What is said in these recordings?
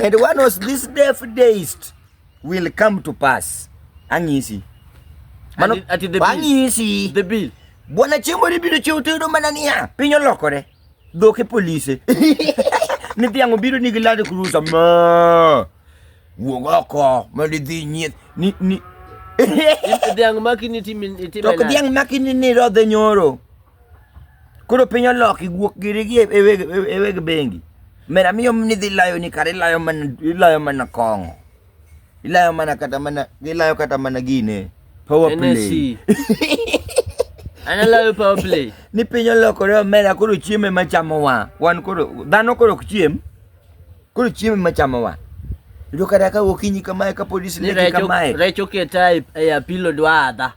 and one of these deaf days will come to pass ang'isi mano ang'isi the bill bwana chiembo ni biro chiwo tiyudo mana niya piny olokore dhoke polise ni dhiang' obiro nigi lad kurusa ma wuog oko mondo idhi nyieth ni ni dhiang' makini timi timi tok dhiang' makini ni rodhe nyoro Koro piny oloki guok giri gi e weg bengi. Mera miyo ni dhi layo ni kare ilayo mana ilayo mana kong'o. Ilayo mana kata mana ilayo kata mana gine. Power play. Analayo power play. Ni piny olokore omera koro chiemo ema chamo wa. Wan koro dhano koro ok chiem. Koro chiemo ema chamo wa. Yudo kata ka okinyi kamae ka polisi ne kamae. Recho ke type e apilo dwadha.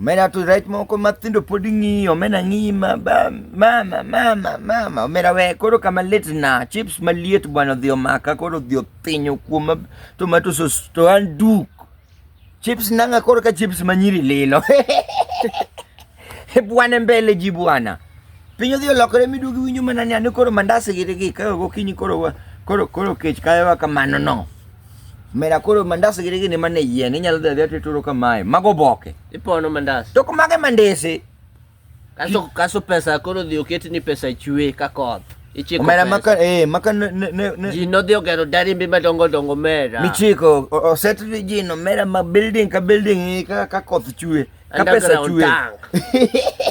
Omena to rech moko mathindo pod ng'iyo, omena ng'iyi ma ba, mama mama mama, omena we koro kama lit na, chips maliet bwana odhi omaka koro odhi othinyo kuoma tomato sauce to an duk. Chips nanga koro ka chips manyiri lilo. bwana mbele ji bwana. Piny odhi olokore miduogi winjo mana ni an koro mandasi gi gi ka gokinyi koro koro koro kech kayowa kamano no. Mera koro mandas gi gini man e yien inyalo dhi adhiya tituro kamae. Mago boke. Ipono mandas. To kumage mandese. Kaso kaso pesa koro dhi oket ni pesa chwe ka koth. Ichiko omera pesa. maka eh maka ne ne ne. Ji nodhi ogero darimbe madongo dongo mera. Michiko oset ji no mera ma building ka building ka ka koth chwe. ka pesa chwe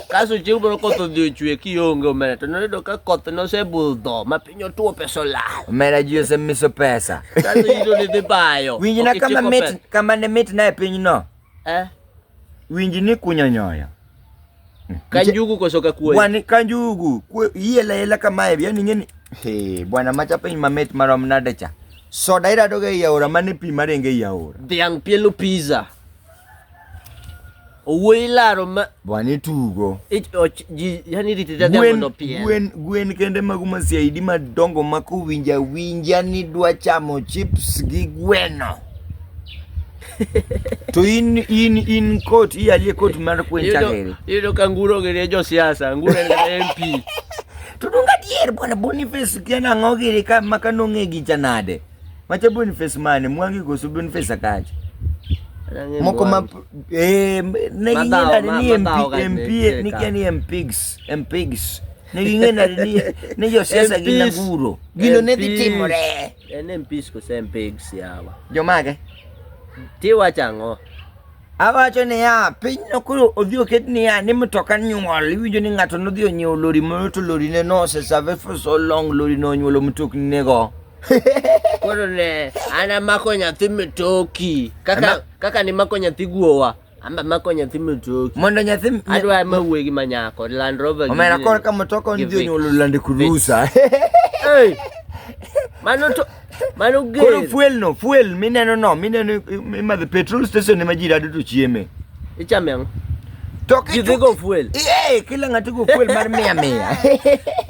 kaso chieng' moro koth odhi ochwe kionge omera to noyudo ka koth nosebudho ma piny otuo pesa olal omera ji osemiso pesa kaso ito nidhi bayo winjina kama mit kama ne mit na e pinyno eh? winji ni kunyo nyoyo kanjugu koso ka kuoyo wani kanjugu yela yela kamae yani ngeni he bwana macha piny mamit marom nade cha soda iradoga ei aora mane pi marenge ei aora dhiang' pielo pizza Owuoyi laro ma bwana itugo. Yani rite dada mondo pien. Gwen gwen kende magu ma CID madongo ma kowinja winja ni dwa chamo chips gi gweno. to in in in kot iyalie kot mar kwen chakere. Yudo ka nguro gere jo siasa, nguro en MP. To dong adier bwana Boniface kiana ng'ogiri ka maka nong'e gi janade. Macha Boniface mane mwangi koso Boniface akacha. Moko ma eh ne ngina ni MP MP ni kani MPs MPs. Ne ngina ni ne yo siasa gina guro. Gino ne dhi timore. En MPs koso MPs yawa. Jomage. Tiwa chango. Awacho niya, pinyno koro odhi oket niya ni mtoka nyuol. Iwinjo ni ng'ato nodhi onyiewo lori moro to lorine nosesave for so long, lorino onyuolo mtokninego. Koro ne ana mako nyathi mitoki. Kaka kaka ni mako nyathi guowa. Amba mako nyathi mitoki. Mondo nyathi adwa ma wuogi ma nyako Land Rover. Omera kor ka mtoka onjo nyolo lande kurusa. Hey. Mano to mano gel. Koro fuel no, fuel mineno no, mineno imadhe petrol station ema ji rado to chieme. Ichame ang'o? To ki- Jidhi go fuel. Eh, kila ng'ato go fuel mar mia mia.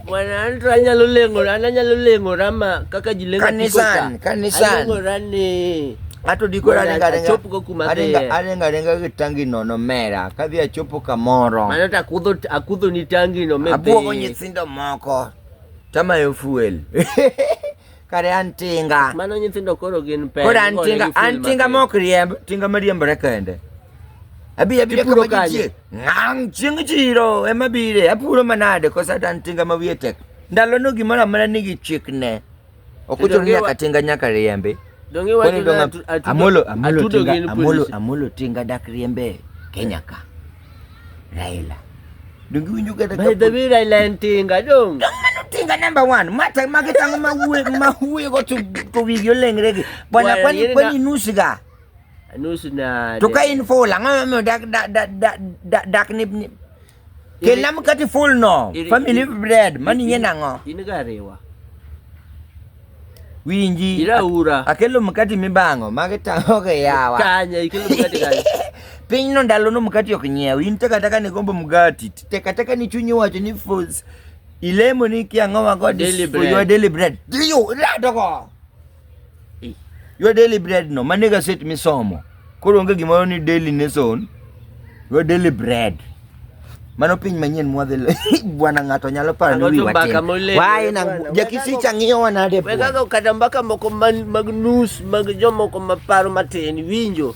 Bwana an to anyalo leng'ora, an anyalo leng'ora ma kaka ji leng'o Kanisan, apiko ka. kanisan. Aleng'ora ni Ato diko Mondo aringa aringa. achopgo kuma aringa dhiye. aringa aringa gi tangi nono mera. Kadhi achopo kamoro. mano to akudho akudho ni tangi no me Abuogo dhi. nyithindo moko. Tamayo fuel. kare an tinga mano nyithindo koro gin pek koro an tinga an tinga mok riemb tinga mariembore kende abi abi kama kanje ngang ching chiro ema bire apuro manade kosa an tinga ma wiye tek ndalo no gimoro amana nigi chik ne okucho nyaka tinga nyaka riembe donge wacho amolo amolo tinga amolo amolo tinga dak riembe kenya ka Raila. Donge winjo kata By the way Raila en tinga dong. Dong mano tinga number 1. Mata mage tango ma wuye ma wuye go to to wigyo lengre gi. Bwana kwani kwani nusu ga. Nusu na. To ka in full ang'o mo dak dak dak dak ni Kela mkati full no. Family bread. Mani yena ngo. Ini garewa. Winji. Ira ura. Akelo mkati mibango magi tango ke yawa. Kanya ikelo mkati kanya. Piny no ndalo no mkati ok nyiew. In taka taka ni gombo mkati. Taka taka ni chunyi wacho ni foods. Ilemo ni kia ngoma god daily bread. For your daily bread. Diyo, ira toko. Your daily bread no. Maniga set misomo. Koro onge gimoro ni daily nation, we daily bread. Mano piny manyien mwadhi bwana ng'ato nyalo paro ni wiwa tin. Wae na jakisi chang'iyo wanade bwana. Wega kata mbaka moko mag nus mag jomoko maparo matin winjo.